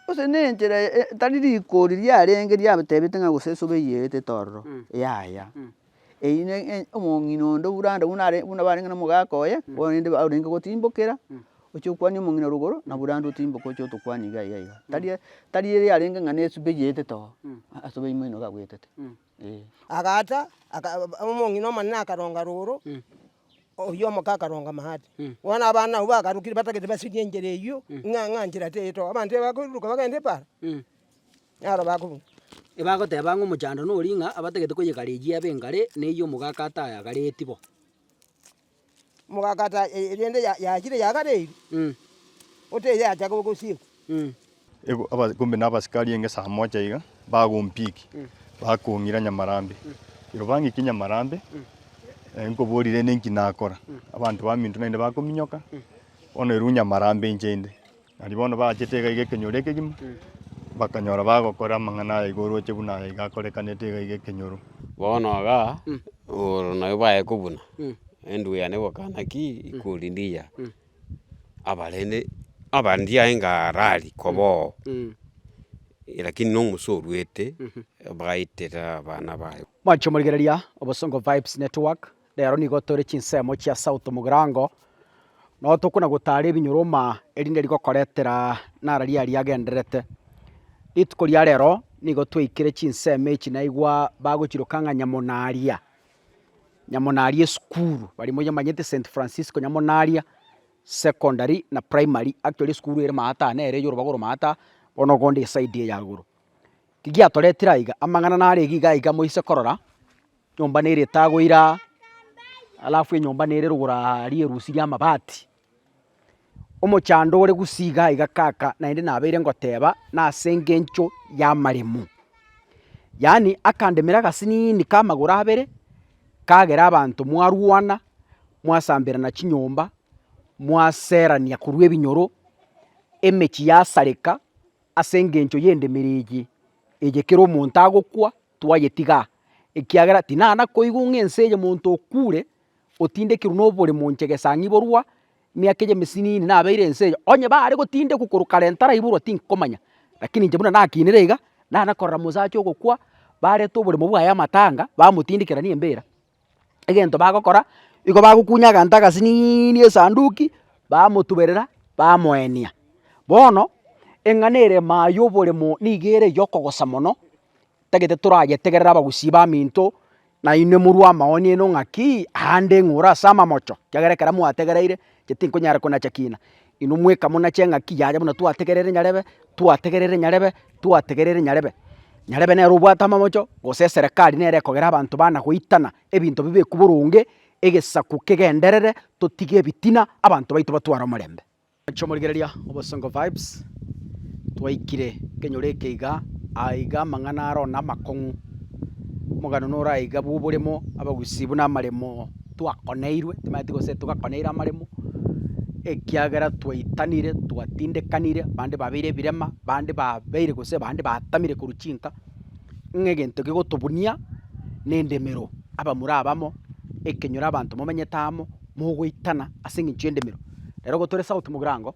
Gose nenchera etari rikori riarenge riatebiete ng'a gose esobe eyietete ororo, yaya, eyio ne omong'ina onde buna buna barenge nomogaka oye, bono rende orenge gotimbokera, oche okwanie omong'ina rogoro, na buna rende otimboke oche otokwanie iga iga iga. Tari tari ere yarenge ng'a nesobe eyietete oo, aa sobe ime ino gagoetete. Agaata, omong'ina omonene akaronga roro, oyio omoke akaronga maate. Bono abana abwo bagarukire batagete basirie enchera eyio, ng'a ng'a enchera teyetoka. Abanto aba bakoiruruka bagende epaara, naro bakobuna. Ebagoteba ng'a omochando noria ng'a abatagete koyegarejia ebe engare, neyio omogaaka atayagareti bo. Mogakata erende yachire yagare eeri, oteyacha gosiekwa. Ego abakumbi na abasikari enge saa mocha iga bagompiki, bakong'ira Nyamarambe. Ero bang'ikie Nyamarambe, nkoboria rende inki nakora? Abanto baminto naende bakominyoka, bono erwu Nyamarambe inche inde. Nario bono baachete iga iga ekenyoro ekegima, bakanyora bagokora amang'ana aya iga orooche buna aya iga akorekanete iga iga ekenyoro. Bono igaa, oro nabo baye kobuna, endwe yane gokana ki ikori ndiya, abarende aba ndiyae ngarari koba oo, lakini na omosee orwete, bagaitera abana baye. Mwancha omorigereria, obosongo vibes network, Rero nigo tore chinsemo chia sauti mogirango, nonya tokona gotara ebinyoroma erinde rigokoretera nara riari agendererete. Rituko ria rero nigo twaikire chinsemo echi naigwa bagochiroka ng'a nyamonaria, nyamonaria esukuru, barimo nyamanyete St Francisco nyamonaria secondary na primary, actually esukuru ere maata nere eye orobaro maata bono ogonde eside eye agoro. Ki giatoretire aiga? Amang'ana nare iga iga iga moise korora. Enyomba nere etaagwa ira, alafu enyomba nere rogoro aa rierusi ri'amabati. Omochando ore gusii igaa iga kaka naende nabeire ngoteeba nase engencho y'amaremo. Yaani akandemera agasiniini k'amagoro abere, kagera abanto mwarwana, mwasamberana chinyomba, mwaserania korwa ebinyoro, emechie yasareka ase engencho y'endemero eye, eye kera omonto agokwa, Twayetiga, ekiagera tinana koigwa ng'a ense eye monto okuure otindekirwe noboremo inche gesang'iborwa emiaka eye emesinini nabeire ense eye. Onye bare gotindekwa korwa kare ntaraiborwa tinkomanya, lakini inche buna nakinire iga, nana korora mosacha ogokwa, bareta oboremo bwaye amatanga, bamotindekera nembera, egento bagokora igo bagokunya aganto agasiniini esanduki bamotuberera bamoenia. Bono eng'ana ere maye oboremo nigo ere eyokogosa mono tagete torayetegerere abagusii baminto nainwe morwe amaoni aino ng'akii aande ng'ore ase amamocho ekiagera ekero mwategereire inche tinkonyara konacha kina. Inwe mwekamuna cheng'aki yaye buna twategerere nyarebe, twategerere nyarebe, twategerere nyarebe. Nyarebe nere obwate amamocho, gose eserekari nere ekogera abanto bana goitana ebinto bibekwe boronge, egesaku kegenderere, totige ebitina, abanto baito batware omorembe. Inche omorigereria Obosongo Vibes, twaikire nkenyoro eke iga, aya iga amang'ana aro namakong'u, omogano noro aiga bw'oboremo, abagusii buna amaremo. twakoneirwe, timaeti gose togakoneire amaremo, ekiagera twaitanire, twatindekanire, bande babeire ebirema, bande babeire gose bande batamire korwa chinka, ng'a egento kegotobunia na endemero abamura abamo, ekenyoro abanto momenyete amo, mogoitana ase eng'encho y'endemero. Rero igo tore souti mogirango.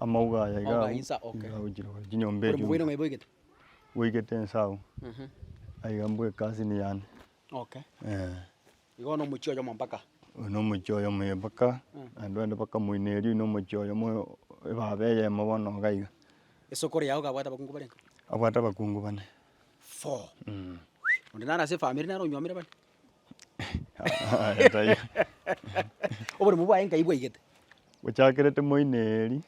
Amauga aya iga agwo, iga agochire gose chinyomba echi buna bweigete inse agwo, aiga mbwe ekasini yane, eh. Oyo nomochie oyomo mpaka naende bande bakamoineria oywo nomochie oyomo ebaba eyemo bono iga iga. Abwate abakungu bane. Aya tai. Oborimo bwaye nkai bwaigete. Gochakera timoineri,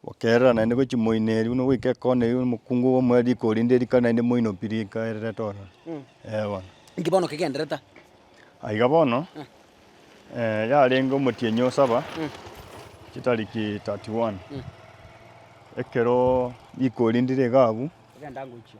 gokerera naende gochia moineri buna goika ekona eyi omokungu obo omwea riko orinde rikari naende moino pi rika erere tororo. Ee bono. Inki bono kegenderete? Aiga bono eh, yarenge omotienyi o saba chitariki 31 ekero riko orindire iga abwo Ogenda ngochia.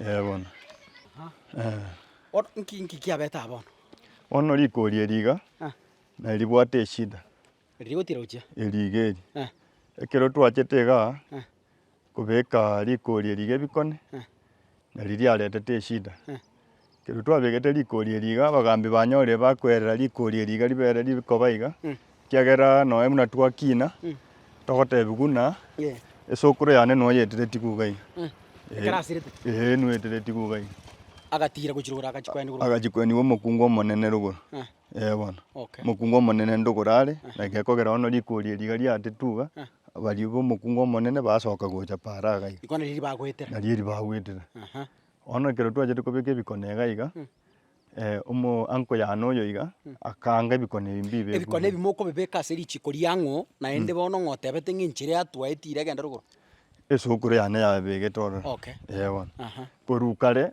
Ee bono. Nki kiabete aa bono? Bono rikori eri iga nari ribwate eshida. Rigotira gochia? Eriga eri. Ekero twachete igaa kobeka rikori eri iga ebikone, Na riria aretete eshida, ekero twabegete rikori erio iga, abagambi banyore bakwerera rikori erio iga ribere rikoba iga, ekiagera nonya buna twakina, togotebia buna esokoro yane noyetereti iga iga iga. Ekero asirete. Ee, noyetereti iga iga iga. Agatiira gochirogora agachia koenigwa. Agachia koenigwa omokungu omonene rogoro. Ee bono, Okay. omokungu omonene ndogoro are, na gekogera bono riko riria riga riatetwe iga, baria bomokungu omonene basoka gocha paaro iga iga, Iko nari ribagoetera. nario eri bagwetera. Aha. Bono ekero twachete kobeka ebikone iga iga, omo uncle yane oyo iga, akaanga ebikone ebi mbibe ebu Ebikone ebi mokobibeka ase richiko riang'o, naende bono ng'a otebete ng'a enchera yatwaetie ira egende rogoro. esukuru yane yabegete ororo. Okay. Ee bono. Aha. Korwa kare,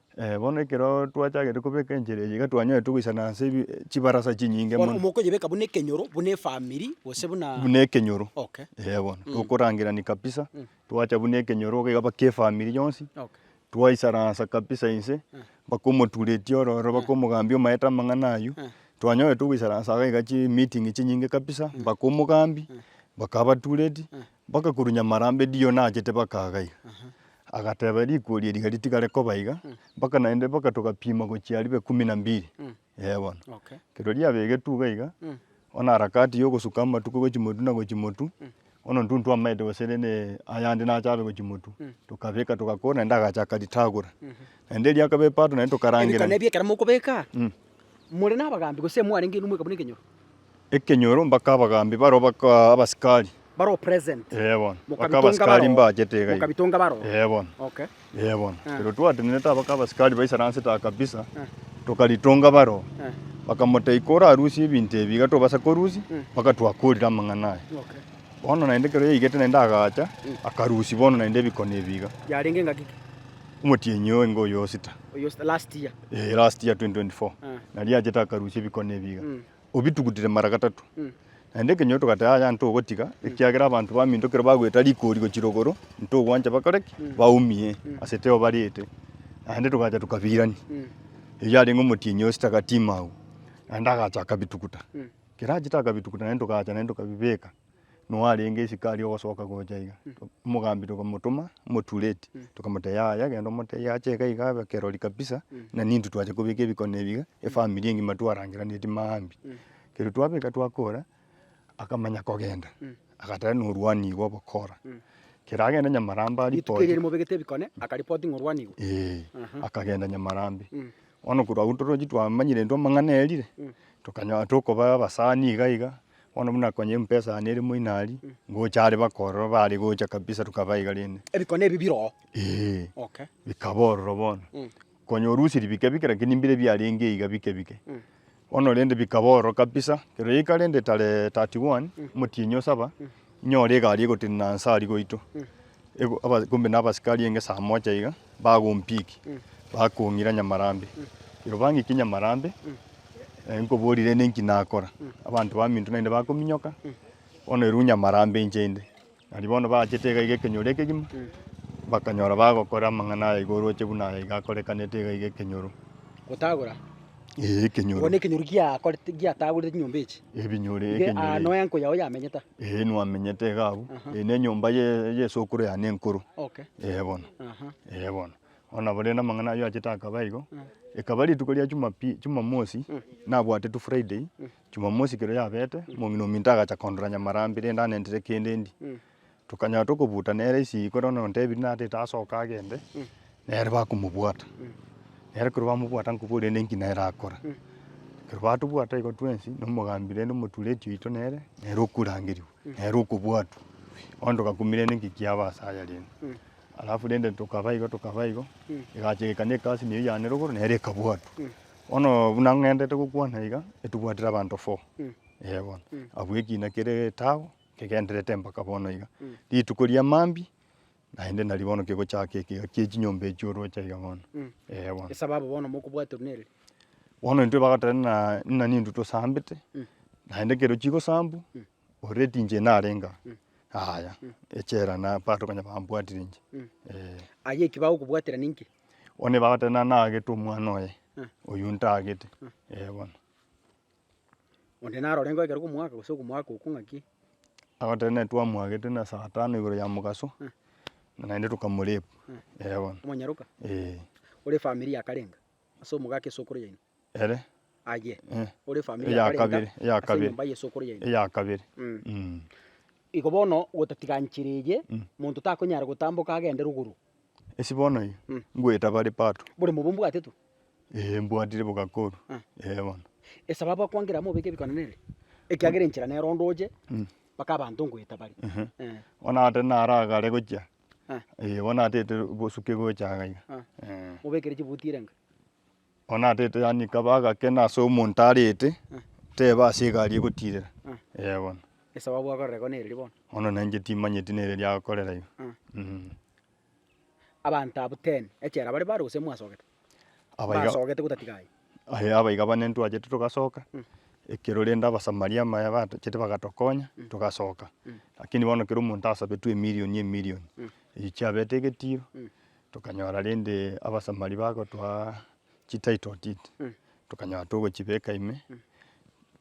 Bono ekero twachagete kobeka enchera eye iga twanyarete goisana ase ebi chibarasa chinyinge Bono mono. mokoyebeka buna ekenyoro, buna efamiri, gose buna... buna ekenyoro Okay. eh bono tokorangerania kabisa twacha buna ekenyoro iga iga mpaka efamiri yonsi Okay. twaisaransa kabisa inse mpaka omoturetie ororo mpaka omogambia omaete amang'ana aywo twanyorete goisaransa iga iga chimeeting chinyinge kabisa mpaka omogambi bakaba batureti Bakakurunya amarambe Dion achete bakaga iga. Agateba, Riko erio riga ritigare koba iga, mpaka naende mpaka togapima gochia ribe kumi na mbiri. Ee bono. Ekero riabegetwe iga iga, bono harakati ya ogosuka amatuko gochia motu na gochia motu, bono intwe ntwamaete gose rende ayande nache abe gochia motu, tokabeka togakora naende agacha akaritagora. Naende riakaba epato naende tokarangera. Ebikone ebio ekero mokobeka, More nabagambi, gose mwarenge inwe mweka buna ekenyoro? Ekenyoro, mpaka abagambi baroo bakaa abasikari. Baroo present. Ee bono. Mpaka abasikari mbachete iga iga. Mokabitonga baroo. Ee bono. Okay. Ee bono. Ekero twatenenete mpaka abasikari baisaransete aa kabisa, tokaritonga baroo. Bakamotebia, Iko orarusie ebinto ebi iga tobasa korusia, mpaka twakorire amang'ana aya. Okay. Bono naende ekero yaigete naende agacha, akarusia bono naende ebikono ebi iga. Yarenge engaki ki? Omotienyi oyo ingo oyo osita. last year 2024, na riachete akarusia ebikone ebi iga, obitugutire mara gatato. Naende ekenyoro togateba, Yaya, ntogotiga, ekiagera abanto bamintokire bagoeta rikori gochira igoro, ntogwancha bakore ki? Baumie ase teo bariete. Naende togacha tokabirania. Erio yarenge omotienyi o sitaka timau, naende agacha akabituguta. Ekero achete akabituguta naende togacha naende tokabibeka. noyo arenge isiko aria ogosoka gocha iga, omogambi tokamotoma moture eeti, tokamotebia yaya genda omotebie ache iga iga abe kerori kabisa, na nintwe twacha kobeka ebikone ebi iga, efamiri engima twarangeraneti maambia. Ekero twabeka twakora, akamanya kogenda, agateba norwani igo ogokora, ekero agenda Nyamarambe Rituko aripoti erio mobegete ebikone, akaripoti ng'a orwani igo. Eeh, akagenda Nyamarambe. Bono korwa agwo torochi twamanyire intwe amang'ana erire, tokanyora tokobaa abasani iga iga. Bono buna konya eumpe esani ere moino aria, ngocha are bakororo bare gocha kabisa rukaba iga rende. Ebikone ebi bire oo? Ee. Okay. Bikaba ororo bono. Konya orusirie bike bike lakini mbire biarenge iga bike bike. Bono rende bikaba ororo kabisa. Kerero eka rende tarehe thirty one, omotienyi o saba. Inyore egari egotenena anse aria goito, kombe nabasikari enge saa mocha iga, bagompiki, bakong'ira Nyamarambe. Iro bang'ikie Nyamarambe, nkoborire ne nki nakora. Abanto baminto naende bakominyoka, bono erwe Nyamarambe inche inde. Nario bono bachete iga iga ekenyoro ekegima, bakanyora bagokora amang'ana aya iga oroche buna aya iga akorekanete iga iga ekenyoro. Ee, ekenyoro. Bono ekenyoro giakorete giatagorete chinyomba echi. Ebinyoro Iga ekenyoro. aa noe enko yao yamenyete. Ee, nwamenyete iga abwo. Aha. Ee, nenyomba ye- yesokoro yane enkoro. Okay. Ee bono. Aha. Ee bono. Bono nabo rende amang'ana ayio achete akaba igo. Ekaba rituko ria Jumapi- Jumamosi, nabwatetwe Friday, Jumamosi ekero yabete, omong'ina ominto agacha kondora Nyamarambi rende anentire kende ndie. Tokanyora tokobuta nere esegi kore onye ontebiri natete asoke agende, nere bakomobwata. Nere ekero bamobwata nkoboria rende nki nere akora. Ekero batobwata igo twensi, na omogambi rende omotureti oito nere, nere okorangerigwa, nere okobwatwa. Bono togakumia rende nki kiaba ase aya rende. Alafu rende tokaba igo tokaba igo, egacha egekana ekasi neyio yane rogoro nere ekabwatwa. Bono buna ng'entete gokwana iga, etobwatire abanto four, eh bono. Abwo ekina kere etabu. Kegenderete mpaka bono iga. Rituko ria mambia naende nari bono kegochaka ekiga kie chinyomba echio oroche iga bono. Ee bono. Esababu bono mokobwaterwa nere. Bono intwe bagoteba ng'a ng'a ninto tosambete naende ekero chigosambwa oreti inche narenge aa yaya echela na part okanya bambwatire inche ee. Aye eki bagokobwatera ninki? Bono bagoteba ng'a nagete omwana oye, oyio ntagete ee bono. Onde narore ngoikera okomwaka gose okomwaka oko ng'aki. Agotenena twamwagete na saa tano igoro ya mogaso, na naende tokamorep, ere bono. Omonyaroka? Ee. Ore efamiri yakarenga ase omogaka esokoro yaino? Ere? Aye. Eh. Ore efamiri Eya yakarenga kabere, eya ase kabere. enyomba y'esokoro yaino? Eya kabere. Mm. Mm. Igo bono gotatiga nchera eye, monto takonyara gotamboka agende rogoro, Ase bono iga, Mm. ngoeta bare pato. Bore mobe ombwate tu. Ee, mbwatire boka koru. Ah. Ee bono. Esababu akwangera mobeke ebikone nere, ekiagera enchera nero onde oche, Mm. mpaka abanto ngoeta bare. Ehe. Eh. Bono ata nara gare gochia. Ah. Ee, bono atete bosuke gocha iga iga. Ah. Ee. Mobekere chibuti erenga. Onatete yani kaba agakena ase omonto arete teba ase egari egotirera eh bono. Esababu akorere ko nereri bono. Bono na inche timanyeti nereri akorera iga mm. Abanto abwo ten echela bare bare gose mwasogete? Abaiga- Mbasogete gotatiga aye. Aye abaiga bane ntwachete togasoka, ekero rende Abasamaria maya batochete bagatokonya togasoka. Lakini bono kera omonto asabetwe emirioni emirioni, eyi chiabete egetiro, Tokanyora rende abasamari bagotoa chititle deed, tokanyora togochibeka ime,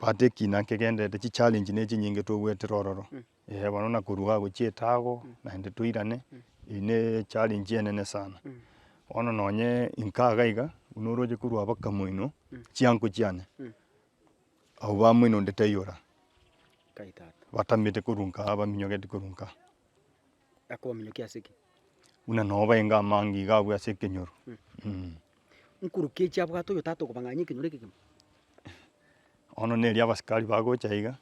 but ekina nkegendererete chichallenge ne chinyinge togoetera ororo, eh bono na korwa gagochia etago naende toirane, eye ne echallenge enene sana. Bono nonye inka iga iga, buna oroche korwa abakamoino, chiango chiane, abwo bamoino onde taiyora, batamete korwa inkaa, baminyogete korwa inkaa. akobaminyokia ase ki? Buna nobaenga amange iga abwo ase ekenyoro. Nkorukechi abwate oyo tata okobang'anyia ekenyoro ekegima? Bono neri abasikari bagocha iga,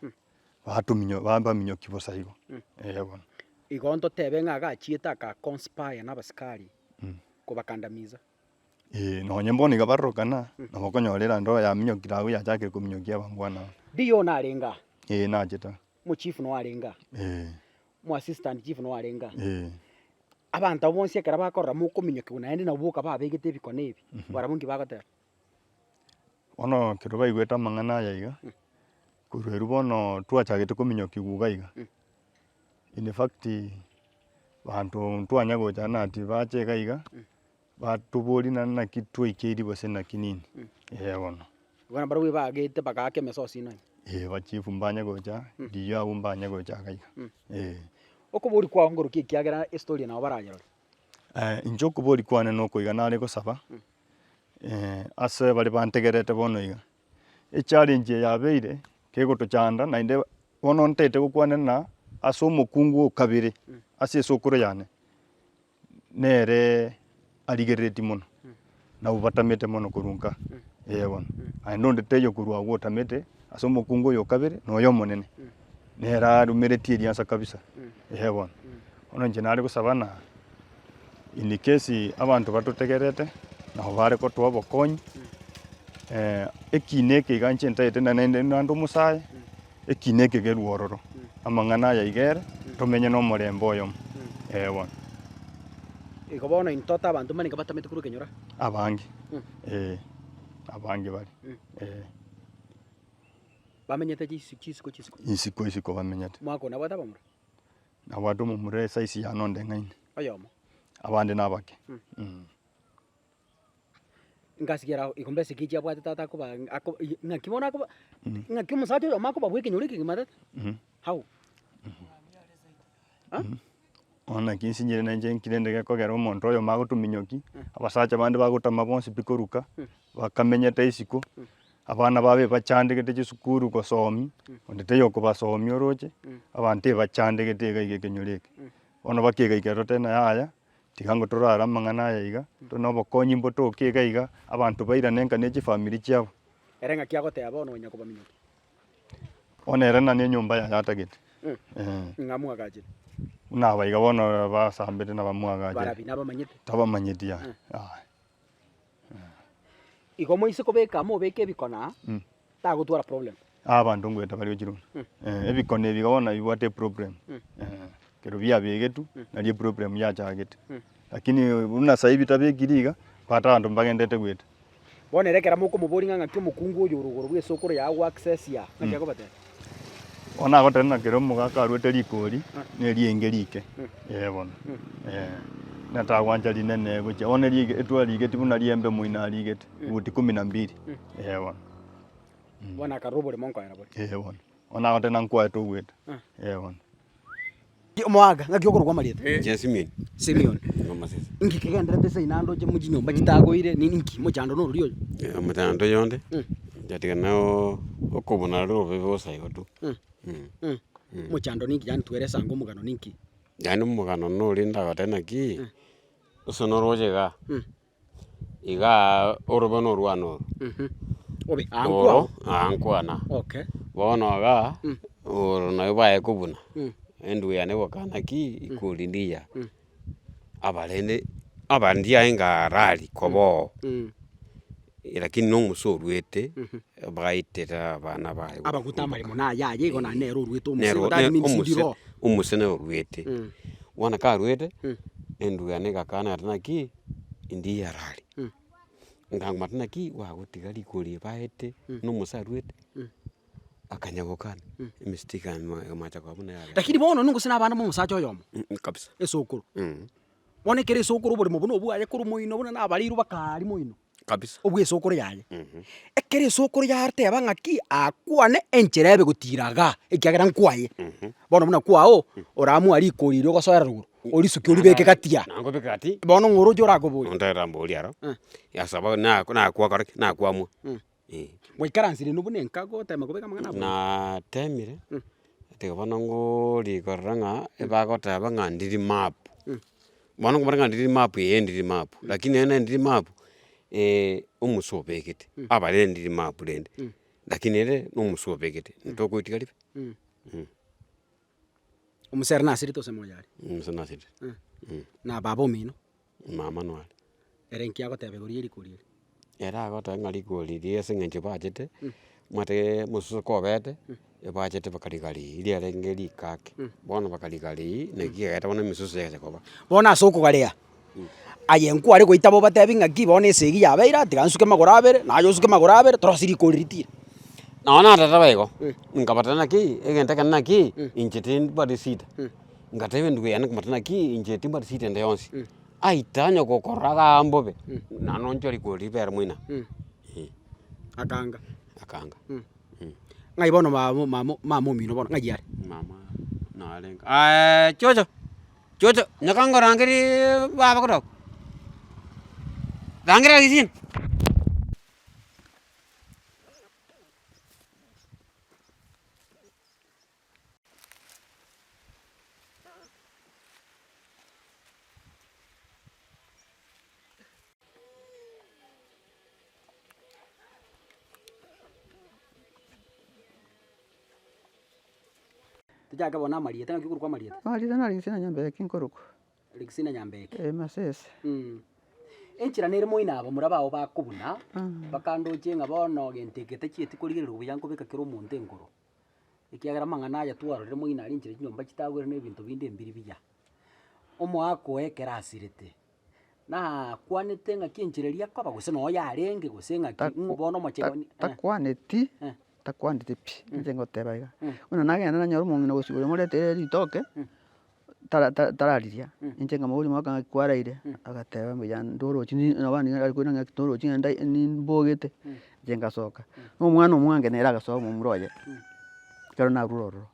batuminyo babaminyoki bosa igo, eh bono. Igo ntotebe ng'a agachiete aka conspire na abasikari kobakandamiza. Eeh nonye bono iga barorokana, nabo okonyora erinde oyo yaminyokire agwo yachakire kominyokia abamwana aba. Diyo narenge aa. Eeh nachete aa. Mochief noyo arenge aa. Eeh. mo assistant chief noyo arenge ang'e. Eh, Abanto abwo bonsi ekero bakorora mokominyokigwa naende nabo boka babegete ebikone ebi, barabwo inki bagoteba? bono ekero baigwete amang'ana aya iga, korwa erwo bono twachagete kominyokigwa iga iga, in fact, banto ntwanya gocha nati bache iga iga. Batobori naende naki twaikeiri gose naki nini? Ee bono. Bono barobwo baagete bagaaka emesosi ino. Ee ba chief mbanye gocha, rigiyo abwo mbanye gocha iga iga. Ee. Okobori kwao ngoroki ekiagera estory eye nabo barayerore? Aye inche okobori kwane noko iga nare gosaba ase bare bantegerete bono iga, echallenge eye yabeire kegotochanda naende bono ntaete gokwanera ng'a ase omokungu o kabere ase esukuru yane. nere arigerereti mono, nabwo batamete mono korwa nka eye bono. Naende onde taiyo korwa agwo otamete, ase omokungu oyo o kabere noyo omonene, nere arumereti eriansa kabisa, eye bono. Bono inche nare gosaba ng'a in case abanto batotegerete nabo bare gotoa obokonyi, ekiina eke iga inche ntagete na- naende naende omosae. Eki nekegeru ororo amang'ana aya iga ere tomenye nomorembe oyomo, ee bono. Igo bono intote abanto mbarenga batamete korwa ekenyoro aa. Abange, ee, abange bare, ee. Bamenyete chisi chisiko chisiko. Isiko isiko bamenyete. Mwaka oo nabwate abamura? Nabwate omomura esize yane onde ng'aini. Oyomo. Abande nabake. ngasigera ago igo mbese ekechi abwate tata akoba ako i- ng'aki bono akoba ng'aki omosacha oyomo akobabua ekenyoro ekegima tata Mhm. how? Ha? Bono naki nsinchire na inche nkire nde gekogera omonto oyomo agotu minyoki, abasacha bande bagotama bonsi pi koruka, bakamenyete isiko, abana babo ebachandegete chisukuru gosomi, onde taiyo okobasomi oroche, abanto ebachandegete iga iga ekenyoro eke. Bono bakegaika toteba yaya, Tiga ngo torare amang'ana aya iga, tore nobokonyi mbotoke iga iga, abanto bairane enka ne chifamiri chiabo. Ere ng'aki agoteeba bono onye kobaminyokia? Bono ere nani enyomba yaye atagete? Ee. Ng'a mwagachire? Buna aba iga bono basambete na bamwagache. Barabi, nabamanyete? Tabamanyeti, aye. Aye. Igo moise kobeka mobeke ebikona Mm. tagotwara problem. Aa abanto ngoeta baria ochire buna. Mm. Eh, ebikone ebi iga bono nabibwate eproblem. Mm. Eh, ekero biabegetwe, Mm. nari eproblem yachagete. Mm. Lakini buna saii bitabekiri iga, bata abanto mbagendete goeta. Bono ere ekero mokomoboria ng'a ng'aki omokungu oyo ore igoro bw'esokoro yago goaccessia, ng'aki akobatebia? Bono nagoteera ng'a kera omogaka aruete rikori nerienge rike, ee bono, ee, natagwancha rinene gochia bono erio ige- etwarigeti buna riembe omoino arigete, futi kumi na mbiri, ee bono, Bono akarora oboremo nkoera boria. ee bono. Bono nagoteera ng'a nkoete ogwete, ee bono. Omoaka, ng'aki okorokwa amarieta? Inche Simion. Simion. Inche omosacha. Inki kegenderete ase inaenda oche mochinyomba chitagoire, ne ninki? Mochando nororia oyo. Eh, omochando oyo onde, Mm. nyatigana na oo- okobuna aria obobe bosa igo tu. Mm. Mm. Mm. Mm. Mochando ninki yaani twere esango omogano ninki? Yaani omogano noria ndagoteba naki, Mm. ase noroche igaa. Mm. Igaa orobe na orwane oro. Mh, obe aa Oro nkwao. aa nkwana. Okay. Bono igaa, Mm. oro nabo baye kobuna, Mm. enduya yane egoka nakii, ikori ndiya, Mm. abarende aba ndiaye ngarari koba oo, Mm. lakini na omosee oruete, Mhm. baitera abana baye gokumba. Abagote amaremo na ayaye igo naende nere oruete omosee, Nero- igo that ne- means omosee- ndire oo. omosee nere oruete. Mm. Bono karuete, Mm. enduya yane egakana ati nakii, Inde yarari, nkamata naki gwagotiga riko ria ebaete, buna omosee aruete, akanya gokana, emesito ikamoa ikamoacha koba buna eyabere. Lakini bono nonye gose nabana momosacha oyomo, kabisa. esokoro, bono ekero esokoro oboremo obo nobwaye korwa moino buna nabareirwe bakaria moino. Kabisa. obw'esokoro yaye. Mhm. Ekero esokoro yateba ng'aki akwane enchera ebe gotira igaa, ekiagera nkwaye, Mhm. bono buna kwao, oramoa riko riria ogosoera rogoro, orisuke oribeke gati aa. Nabo obeke gati. Bono ng'oroche orakoboria. Nonterera mbori aro, Eh. yasaba nako nakwakora ki? Nakwamwa. Mm. eh. Gwaikaransire inwe buna enka gotema kobeka amang'ana abwo? Natemire, Mm. tiga bono ngorikorera ng'a ebagoteba ng'a ndiri map. Mm. Bono nkomanya ng'a ndiri map eh ndiri map, lakini ere nere ndiri map omusu obegete, abare ndiri map rende, Mm. lakini ere na omusu obegete, ntokoitiga ribe? Mm. Mm. Omosere nasirete gose moyare? Omusa nasirire. Na baba omino? Mama nware. Ere inki agoteba igoro ye riko riria? Ere agotoba ng'a riko riria ase eng'encho ebachete, omanyete omososo kobete, ebachete baka rigarii, riarenge riko ake. Bono baka rigarii, naki kiagete bono emesoso yagete koba. Bono ase okogarea, aye nkware goita bobatebi ng'aki bono esegi yabe eira, tiga nsuke magoro abere, naye osuke magoro abere, torosie riko riria tira. Nao natete baigo, nkabatebia naki, egento ekenene naki, inche tindi bari shida. Ngateba enduko yane komata naki inche timbwati shida ende yonsi. Aye tanya gokorora gaa mbobe, naende onchore igoro ribeera moino aa. Eeh. Akanga. Akanga. Ng'ai bono mama mama mama omino bono ng'ai are? Mama narenge chocho, chocho, nyoka ngorangereeee baba kidogo, rangera egesina. Tochake bono amarieta, naki okorokwa amarieta? Amarieta naro Rigisina Nyambeke nkorokwa. Rigisina Nyambeke. Ee, Masese. Mm. Enchera nere moino aba mora bao bakobuna, bakandoche ng'a bono gento eke tachieti korigereria buya nkobeka kera omonto enkoro. ekiagera amang'ana aya twarorire moino arinchire chinyomba chitagwere na ebinto binde embiri mbuya. Omoaka oye ekero asirete, nakwanete ng'aki enchera eria akoba gose noyo yarenge gose ng'aki Taku- ng'o bono omochengo ta- eh. takwaneti Eh. takwaneti pi, inche ngoteba iga, buna nagende nanyore omong'ina gose oyo omoreteire ritoke, tarariria inche nkamanya oborio mwaka ng'aki kwaraire agateba mbuya ndorochi naba nigo nari korenda ng'aki torochi ng'ende nimbogete inche ngasoka na omwana omwange nere agasoka omomura oye ekero narure ororo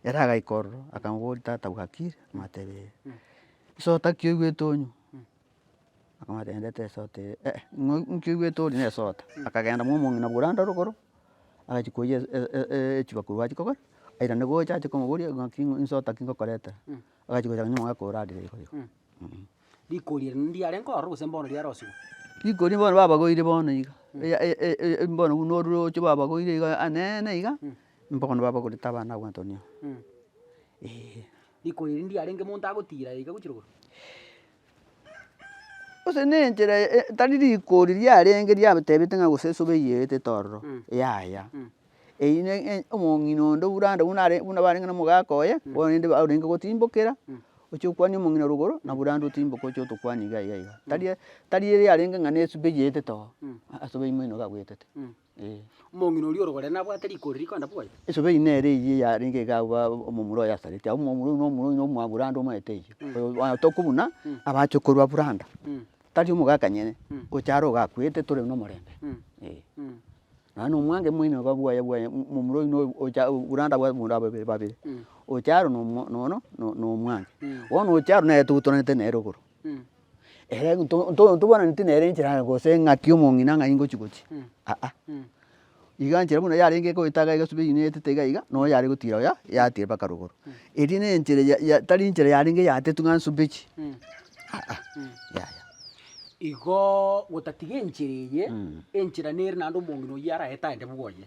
ere agaika ororo akamoboria tata bwakire? Amatebee ee. Nse otaki oigwete onywe? Akamotebia esota eye eh ng'o inki oigwete ore nesota, akagenda momong'ina bwa oranda rogoro, agachia koyia echibakuri achia kogora, airane gocha achia komoboria ng'aki nsota ki ngokoretera, agachia gochaka nyomong'e akoira adire iga iga. Rikori eri nindi yarenge ororo gose mbono riarosigwe? Rikori bono babagoire bono iga, eya e- e- e- e bono buna ororoche babagoire iga anene iga, mbono babagorete abana abwo Antonio, eeh. Rikori eri nindi yarenge monto agotira iga gochia rogoro? Gose ne enchera tari rikori riarenge riatebete ng'a gose esobe eyerete tororo, yaya, eyio ne e omong'ina onde oburande buna are buna barenge na omogaka oye, bono rende barenge gotimbokera, oche okwanie omong'ina ore igoro, na oborande otimboke oche otokwanie iga iga iga. Tari tari ere yarenge ng'a nesobe eyerete too, aa asobe ime ino gagoetete. Ee. Omong'ina oria orogorere nabwate riko riria rikoenda boyo. Esobe eyio nere eyio yarenge iga abwo omomura oyo asarete, abu omomura oyo nomura oyo nomwa branda omanyete oyio. Oyo batoku buna, abache korwa branda, tari omogakanyene, gocha are ogakwete tore nomorembe, ee. Nonye na omwango omoino iga bwoye bwoye momura oino oyo ocha branda bwa abanto babere babere, ocha aro nomo nono nomwange, bono ocha aro nere togutoranete nere igoro. Ere ntobwananeti nere enchera yaye gose engaki omong'ina ng'a ingochi gochi, aa. Iga enchera buna yarenge egoeta iga egesubi eywo netete iga iga, nonya yare gotira oya yatira mpaka rogoro. Eria nenchera ya tari enchera yarenge yatetwe ng'a nsube chi, aa, yaya. Igoo gotatiga enchera eye, enchera nere naende omong'ina oyio araete aende bwoye.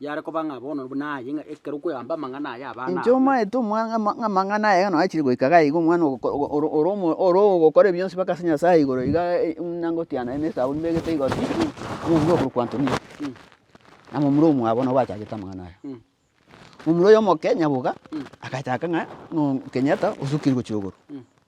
yare koba ng'a bono buna aye, ng'a ekero okwegamba amang'ana aya abana Inche abo. omaete omwa- ng'a ama- ng'a amang'ana aya ayio noachire goika iga aiga omwana ogo- ko- ogo- oro- oro- omo- oro ogokora ebi bionsi mpaka ase Nyasae igoro iga e- e- muna ngotiana ime esabuni mbegete igo pi pi, omomura okorokwa Antonio, na momura omwabo nabo bachagete amang'ana aya. Momura oyo omoke nyaboga, agachaka ng'a no Kenyatta osukire gochia igoro.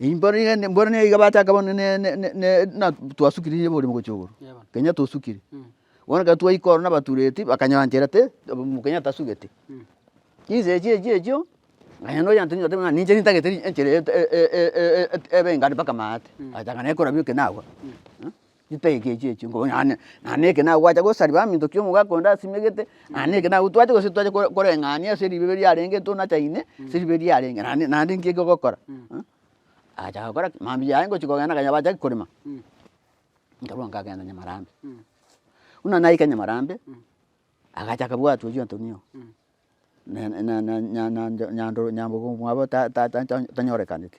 Mboro nigo iga bachaka bono na twasukire nigo ore mogochia igoro, kenya tosukire. Bono ekero twaika oro nabatureti bakanyoranchera te mokenya tasugete. Chinsa echio echio echio nonye nonya ntwe totebe ng'a ninche nintagete enchera ebe engari mpaka maate, agachaka naye korabia ekero nagwa. Chitagi echi echi echi nko nonye nonye eke nagwacha gosariba amo intoki omogaka onde asimegete nonye eke nago twache gose titwache kore koreng'ania ase ribe riarenge tonachaine ase ribe riarenge naende naende nki eke ogokora agachaka gokora ki mambia yaye ngochi kogenda akanya bacha ki korema nkarwa nkagenda Nyamarambe buna naika Nyamarambe agachaka bwatwa echio Antonio ne ne ne nya nya nyando nyambogo mwabo ta ta ta tanyorekaneti.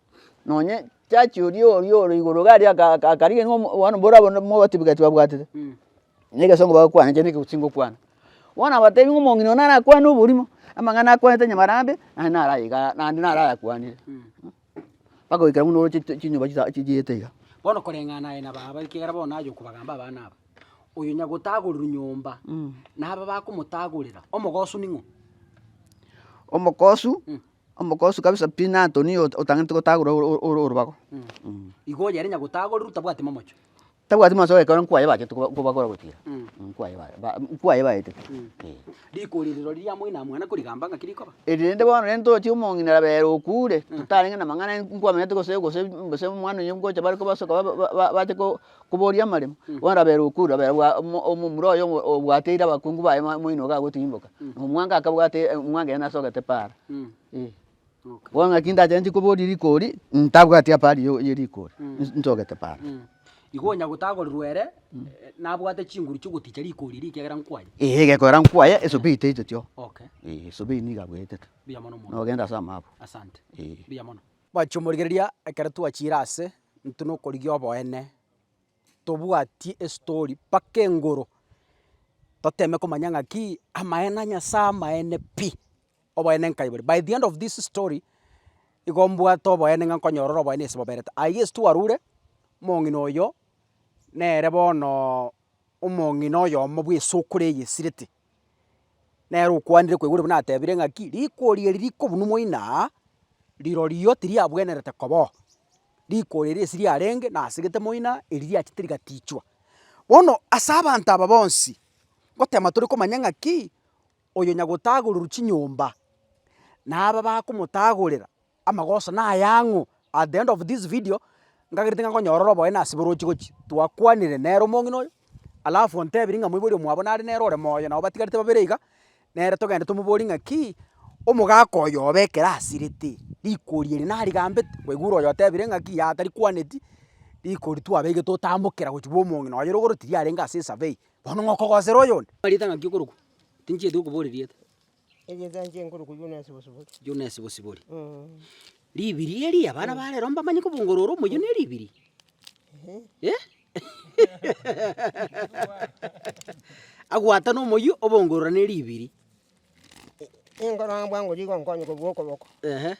nonye jaji oria oria ore igoro iga aria aka aka akarigereria ng'a bono mboro abwo nabwo mobatebia egento babwatete, na egesongo bagokwana ekiagera nigo chingokwana. Bono abatebi ng'a omong'ina oyo nara akwane oborimo, amang'ana akwanete nyamarambe, naende nara aye igaa naende nara ayakwanire bagoikera buna ore chi chinyoba chisa chichiete iga. Bono koreng'ana aye na baba ekiagera bono naye okobagamba abana aba, oyo nyagotagorirwa nyomba naba bakomotagorera, omogosu ning'o? Omogosu Omogosu kabisa pi na Antoni oyo otang'anete gotagora orobago. Igo oyo yarenge gotagorerwa tabwati momocho. Tabwati momocho ekero nkwaye bachete kobagora gochia ira, nkwaye baye nkwaye baetete eh. Riko riri rori riamoina mwana korigamba ng'aki rikoba. Eri rende bono rende tochi omong'ina rabera okure, totarenge namang'ana nkwamenyete gose gose gose omwana oye ngocha bare kobasoka ba ba bache ko. Kobooria amaremo, bono rabera okwo, rabera bwa omo omomura oye obo obwateire abakungu baye ma moino iga agotirimboka, na omwanga akabwate e- omwanga ere nasogete para, eh. Bono naki ndachaneti koboria rigori, ntabwati apari yo ye rigori, nsi nsogete para. Igo onyagotagorirwa ere, nabwate chinguru chigoticha rigori erio ekiagera nkwaya. Eeh egekoera nkwaya, esobi etaiteti oo, Okay, eh esobi eyio nigo agoetete, mbuya mono omwami. nogenda ase amaabwo, Asante, eh. mbuya mono. Mwachi omorigereria, ekero twachire ase intwe na okorigia oboene, tobwatie estori mpaka engoro, toteme komanya ng'aki amaene a Nyasaye amaene pi, oboene nkai bore. By the end of this story, igo mbwate oboene ng'a nkonyora ore oboene ase boberete. Aye gesi twarure, omong'ina oyo nere bono omong'ina oyomo bw'esokoro eye esirete. Nere okwanire koigwa riria buna atebire ng'aki, rikori eri rikobunwa moina, rirorio tiriabwenerete koba oo. Rikori eri ase riarenge nasegete moina, eri riachete rigatichwa. Bono ase abanto aba bonsi, ngotema tore komanya ng'aki, oyo nyagotagorerwa chinyomba, na aba bakomotagorera, Amagoso naya ang'o? At the end of this video, nkagerete ng'a nkonyorora oboe na ase borochi gochia, twakwanire nere omong'ina oyo, alafu ontebirie ng'a moibori omwabo nare nere ore moyo nabo batigarete babere iga, nere togende tomoborie ng'akii, omogaka oyo obe ekero asirete, rikori eri narigambete, kwaigure oyo otebire ng'aki yaaaa tarikwaneti, rikori twabeire totambokera gochia bwa omong'ina oye rogoro tiriarenge ase esabei, bono ng'okogosera oyonde. Omanyete ng'aki okorokwa? Tinchieti kokoboria rieta. Juna esibosibori. Ribiri eria, abana ba rero mbamanye kobongora ore omoyio ne ribiri. Agwatane omoyio obongorora ne ribiri. Ehe.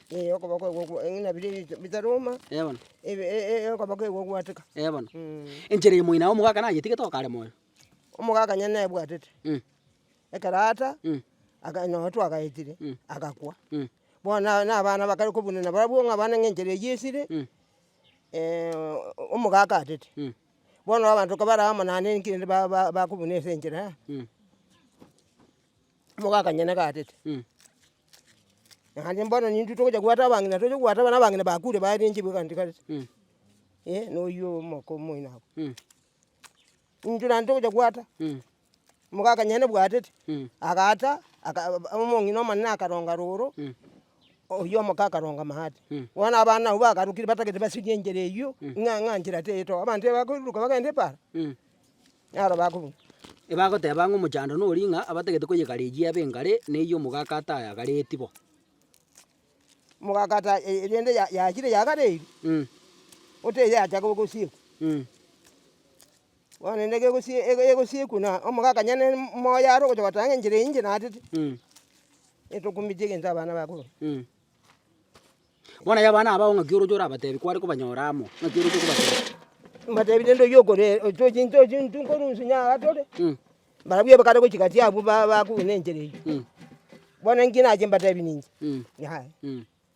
Ee bono. Ee bono. Enchera eye moino aye omogaka nayetigete okarema oyo. Ekero Ata akanyora ng'a twagaetire, agakwa. Bono aba nabana bakare kobunana barabwo ng'a abana ng'a enchera eyio esire, omogaka atete. Bono abanto ekero barabwo amo naende ninki rende ba- ba- bakobuna ase enchera aa, omogaka onye nigo atete. Naende bono nintwe togocha gwaeta abang'ina tocha gwaeta abana abang'ina bakure barenchiwe egento gete, eh, na oyio omoko omoino aba. Intwe naende togocha gwaeta. Omogaka nyene bwatete, agaata, aka omong'ina omonene akaronga roro, oyio omoke akaronga maate. Bono abana abwo bagarukire batagete basirie enchera eyio, ng'a ng'a nchera teyetoba, abanto tibakoiruruka bagende ebaara, naro bakobua. Ebagoteba ng'a omochando nori ng'a abatagete koyegarejia ebe engare, na eyio omogaka atayagareti bo. Omogaka ata e- e- rende ya- yachire yagareiri, botebi yacha gosiekwa. Bono naende egosiekwa na omogakanya ne omoyo are ogocha gotanga enchera eyio inche naatete, etokumbetie egento abana bakobua. Bono abana abwo ng'aki oroche orabatebi kware kobanyora amo, ng'aki oroche kobatebia? Mbatebi rende oyio okoree tochi tochi nkorwa inse onye aa tore, barabwo abakare gochia gati abwo ba- bakobua na enchera eyio, bono engaki nache mbatebi ninche, yaya.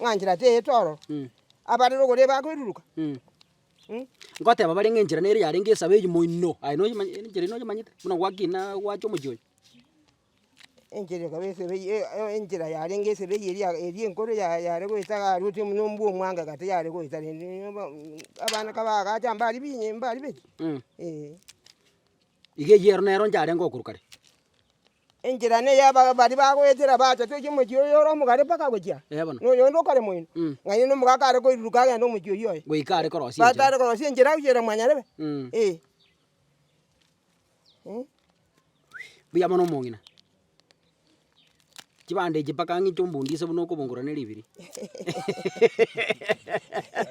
ng'a enchera teyete ororo, abare rogoro ebe akoiruruka. Ngoteba bare ng'a enchera nere yarenge esabe eywo moino, aye noyomanye enchera eywo noyomanyete? Buna gwakina gwacha omochie oyo. Enchera ekaba esabe eye e- enchera yarenge esabe eye eria eria enkoro ya- yare goeta iga aria otiga buna ombua omwanga egati yare goeta rende aba abana kabagacha mbari binye mbari beti, eeh. Iga eyio ero nero ncharengo okorwa kare. Enchera neye baria bagoetera baacha toiche omochie oyo ore omogare mpaka agochia, na oyonde okare moino, ng'aini na omogaka are koiruruka agende omochie oyio oye, goika are korosia enchera. batare korosia enchera gochira mwanyarebe. Eh. Mbuya mono omong'ina. Chibande echi mpaka ang'inte ombundi ase buna okobongora ne ribiri.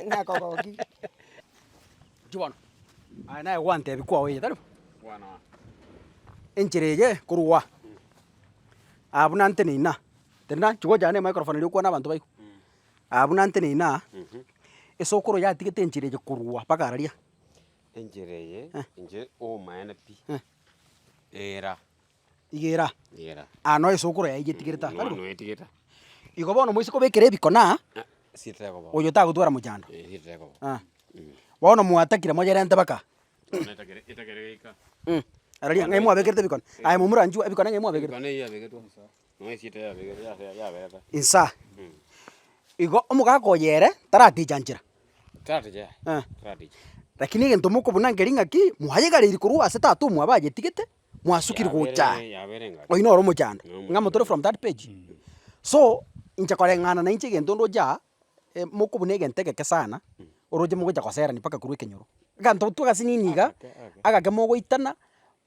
Nakogokia. Inki bono? Aye naye gwantebi kwao eye, tari bo? Enchera eye korwa aa, aa buna nteneine aa, tari nanchi gocha ne microphone eria okwane abanto baigu, aa buna nteneine aa, esokoro yatigete enchera eye korwa mpaka araria. Enchera eye inche obomaene pi, era. Igera, aa noise okoroa yaye getigerete aa, tari bo? Igo bono moise kobekera ebikona, oyo tagotwara mochando, ah. Bono mwatakire moyerente mpaka aa. Mh, aroria ng'ai mwabekerete ebikone, aye momorachie ebikone ng'ai mwabekerete? Insa, igo omogaka oyo ere, taraticha nchera, eh. Rakini egento mokobuna nker'ing'aki, mwayegareiri korwa ase tata omwabo ayetigete, mwasukiri gocha aa, oyio noro omochando, ng'a motore from that page. So, inche koreng'ana nainche egento ndoche aa, moko buna egento egeke sana, oroche mogocha goserani mpaka korwa ekenyoro. Aganto twa gasi nini iga, agake mogoitana,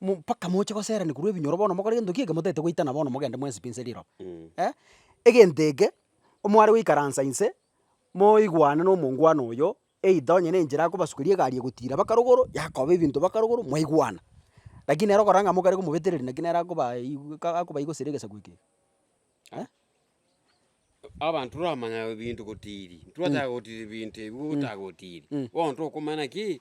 mo mpaka moche goserani korwa ebinyoro bono mogore gento kiege motagete goitana bono mogende mwensipi nse riroba. Eh, egento eke, omware goikaransa inse, moigwane na omongwana oyo, either onye nenchera akobasukeria egari egotira mpaka rogoro, yakoba ebinto mpaka rogoro, mwaigwana. Lakini nere okorora ng'a amo okare komobetereria naki nere akoba igu ka akoba igusera egesaku eke iga eh. Abanto toramanya ebinto gotiri, ntitwataka gotira ebinto ebi gotaga gotiri, bono tokomanya naki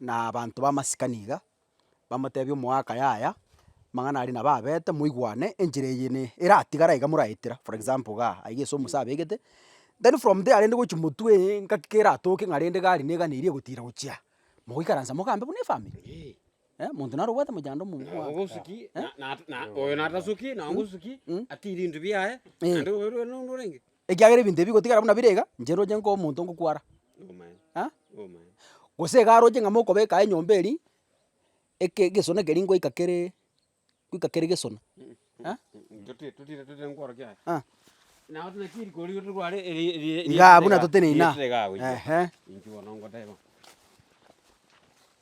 na abanto b'amasikani iga, bamotebie omoaka yaya, amang'ana aria nabo abete moigwane, enchera eye ne eratigare aiga moraetera, for example igaa, aiga ase omosa abegete, then from there rende gochi motwee engaki keratoke ng'a rende gari negane eria egotira gochia, mogoikaransa mogambe buna efamiri, eh, monto naro obwate mochando omo buna omwabo ogosuki na- na- na oyo natasuki, na ogosuki, atiri ebinto biaye, naende oyo rende onde orenge. Ekiagera ebinto ebi bigotigara buna bire iga, inche roche nka omonto ngokwara, ah gose iga aroche ng'a mokobeka aye nyomba eria, eke egesona keria ngoika keree ngoika kere gesona ah ah igaa buna toteneine aa ehe.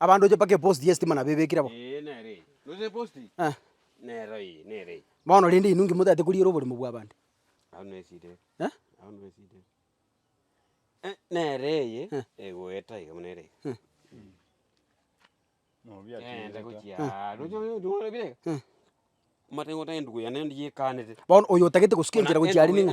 Abandoche mpaka eposti y'esitima na bebekire bo. Bono rende inwe inki motaete koriera oborimo bw'abande? Bono oyo otagete gosika enchera gochia are ning'o?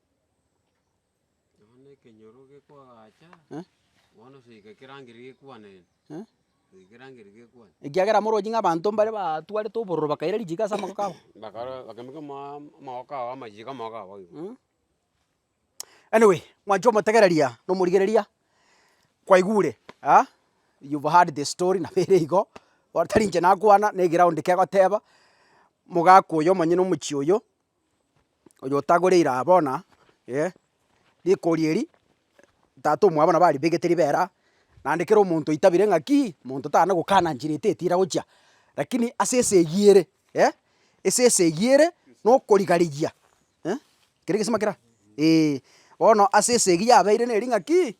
Ekiagera morochi ng'a abanto mbare batwarete obororo bakaira richiika ase amagoko abo. Anyway, mwancha omotegereria na omorigereria, kwaigure aa you've heard the story nabo ere igo, tari inche nakwana, na egeroundi kegoteba, mogaka oyo omonyene omochie oyo. oyo otagoreire aa bono eh, rikori eri, tata omwabo nabo aribegete ribero aa, naende kera omonto oitabire ng'akii, monto tana gokana nchera ete etira gochia, rakini ase esa eyio ere eh, ase esa eyio ere na okorigarigia eh, keri egesima kera? Eeh. Bono ase esa eyio yabeire neri ng'akii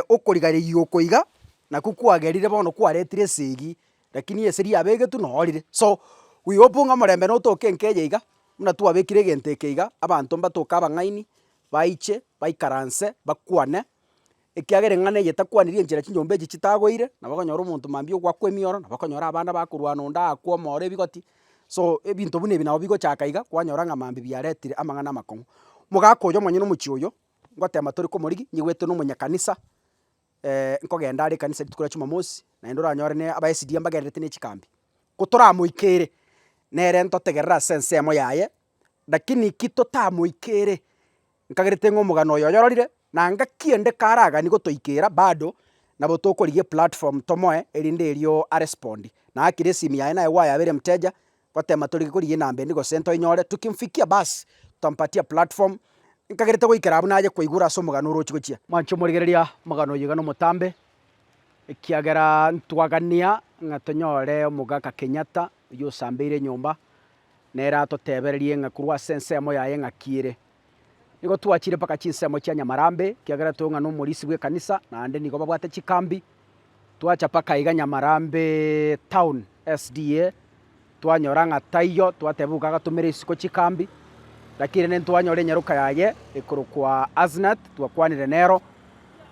okorigarigia oko iga, nakwo kwagerire bono kwaretire esa eyio Lakini esegi yabegetwe noorire. So, we hope ng'a omorembe notoke enka eye iga, buna twabekire egento eke iga, abanto mbatoke abang'aini, baiche, baikaranse, bakwane, ekiagera eng'ana eye etakwanirie enchera chinyomba echi chitagoire, nabo okonyora omonto mambia ogoakwa emioro, nabo okonyora abana bakorwana onde aakwa omooro ebigoti, so ebinto buna ebi nabo bigochaka iga, kwanyora ng'a mambia biaretire amang'ana amakong'u. Omogaka oyo omonyene omochie oyo, ngotema tore komorigia, nyigwete na omonyakanisa. nkogenda are ekanisa rituko ria Chumamosi, naende oranyore ne abaesiria mbagendererete ne chikambi. Ko toramoikere, nere ntotegerere ase ensemo yaye, lakini ki totamoikere, nkagerete ng'a omogano oyo oyororire, na ngaki ende karagani gotoikera bado, nabo tokorigia eplatform tomoe, erinde erio arespondi. Na akire esimi yaye naye gwayabeire mteja, gotema tori korigia enamba endi gose ntoinyore, tukimfikia basi tutampatia platform, nkagerete goikera abwo naye koigora ase omogano orochi gochia. Mwanche omorigereria omogano oyio iga nomotambe, ekiagera ntwagania ng'a tonyore omogaka Kenyatta oyio osambeire enyomba, nere atotebererie ng'a korwa ase ensemo yaye ng'aki ere. Nigo twachire mpaka chinsemo chia Nyamarambe, ekiagera toong'ana omorisi bw'ekanisa, naende nigo babwate chikambi. Twacha mpaka iga Nyamarambe town SDA, twanyora ng'a taiyo, twateba boka agatomera isiko chikambi. Lakini rende ntwanyora enyaroka yaye ekorokwa Asnath, twakwanire nero,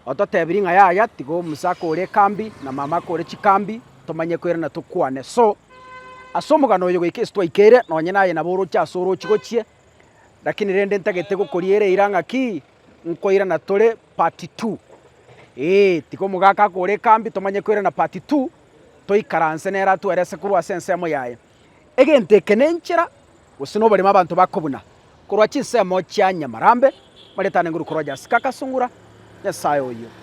ototebirie ng'a yaya, tiga omusa ake ore ekambi, na mama ake ore chikambi, tomanye koirana tokwane. So, ase omogano oyo goika ase twaikeire, nonye naye nabo oroche ase orochi gochie, Lakini rende ntagete gokoriera eira ng'a ki, nkoirana tore part two. Ee, tiga omogaka akore ekambi tomanye koirana part two, toikaranse nere atwere ase korwa ase ensemo yaye. Egento eke na enchera gose na oboremu abanto bakobuna korwa chinsemo chia Nyamarambe, Marieta Nenguru Koroja Sika Kasungura, Nyasae oyio.